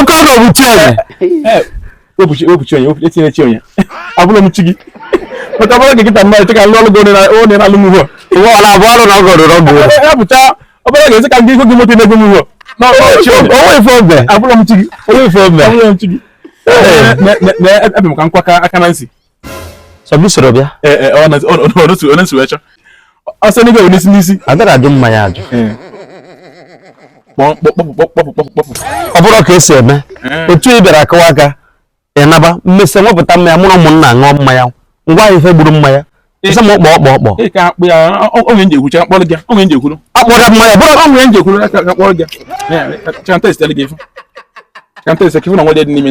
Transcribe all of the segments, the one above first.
oke ọgọ bụ chi onye wepụ chi wepụ chi onye etinye chi onye abụrụ m chi gị maka bụrụ gị kịta mmadụ cheka lụọ lụgo onye na-alụ m ugbo ụwa ọla abụọ ọrụ na ọgọ rụrụ ọgụ ya pụcha ọ bụrụ ga-esi ka ndị ihu gị moto na-egwu m ugbo onwe ife obe abụrụ m chi gị onwe ife obe abụrụ m chi gị ebe m ka nkwaka aka Nancy sọbisoro bịa ọnụsiwecha ọsọ n'igwe bụ n'isi n'isi adara ajụ mmanya ajụ ọ bụrụ ka esi eme otu ị bịara akụwa aka ịnaba m mesị m wepụta mmanya mụrụ ụmụnna ṅụọ mmanya ngwa ife gburu mmanya ịsa m ọkpọ ọkpọ ọkpọ akpọrọ mmanya bụrụ ọnwụ ya njekwuru ka akpọrọ gị ka m tesitele gị ife ka m tesitele gị ife na nwa dị n'ime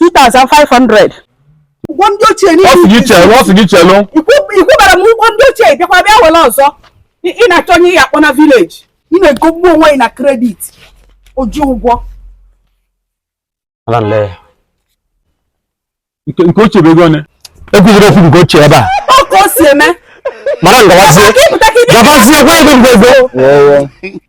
2500 ụgwọ ndị ochie niile ọ sị gị chelụ ọ sị gị chelụ ị kwụbara m ụgwọ ndị ochie bịakwa bịa were ọzọ ị na-achọ onye ya akpọ na village ị na-egogbu onwe gị na credit oji ụgwọ nke ochie bụ ego one ekwuziri okwu nke ochie ebe a ọ ka o si eme mara ngawazie gabazie gwa ego ngwego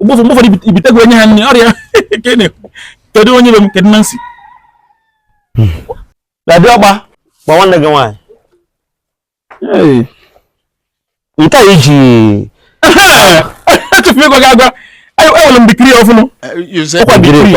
ụgbọfọ mgbe ụfọdụ i bite ego enye ha nri ọrịa kedu onye be m kedu Nancy dadi ọgba gba nwanne gị nwaanyị nke a iji echefu ịgwa gị agwa ewere m dikiri ọfụnụ ọkwa dikiri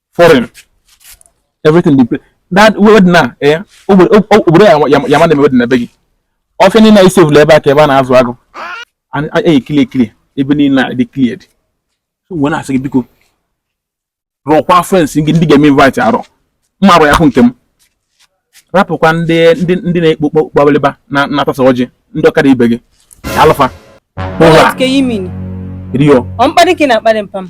foreign everything dey play that word na eh obodo ya ma na-eme word na be gị ọfịa niile anyị sevụl ebe a ka ebe a na-azụ agụ anyị ekili ekili ebe niile a dị cleared so wee na-asị gị biko rọkwa friends gị ndị ga-eme invite arọ m ma arọ ya hụ nke m rapụkwa ndị ndị ndị na-ekpo kpọkpọbalịba na-atasa ọjị ndị ọkada ibe gị alụfa What do you mean? Rio. I'm panicking at Madam Pam.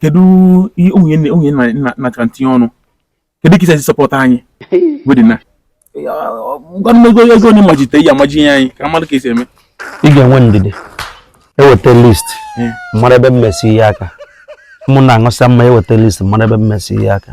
kedu ihe onye onye nachara ntinye ọnụ kedu ka i si support anyị wedding a ngwanụ ego onye majite ya amaji ihe anyị ka mmadụ ka esi eme ị ga-enwe ndidi e weta list m mara ebe m mesi ihe aka ụmụnna aṅụsị mma e weta list m mara ebe m mesi ihe aka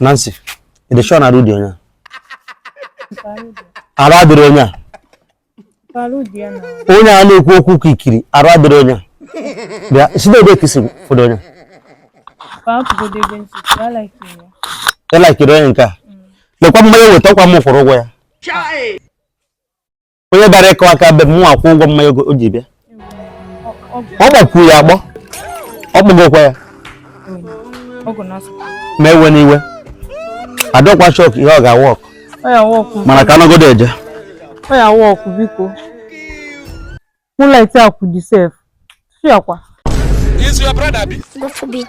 Nancy, ị dị sure na arụ dị onye a? Arụ adịrị onye a? Onye a na-ekwu okwu ka ikiri, arụ adịrị onye a? Bịa, si n'ebe ka i si fọdụ onye a? Ị laikiri onye nke a? Lekwa mmanya weta ọkwa m kwụrụ ụgwọ ya. onye bịara ịkụ aka be m nwa akwụ ụgwọ mmanya ogo- o ji bịa ọ gbakwuru ya agbọ ọ kpụgokwa ya ọgụ na asụsụ ma ewe n'iwe adọkwa shock ihe ọ ga-awork ọ ya awork mana ka anọgodo eje ọ ya awork biko mụlaiti akwụ dị sef chi akwa Is your brother be? Go for beat.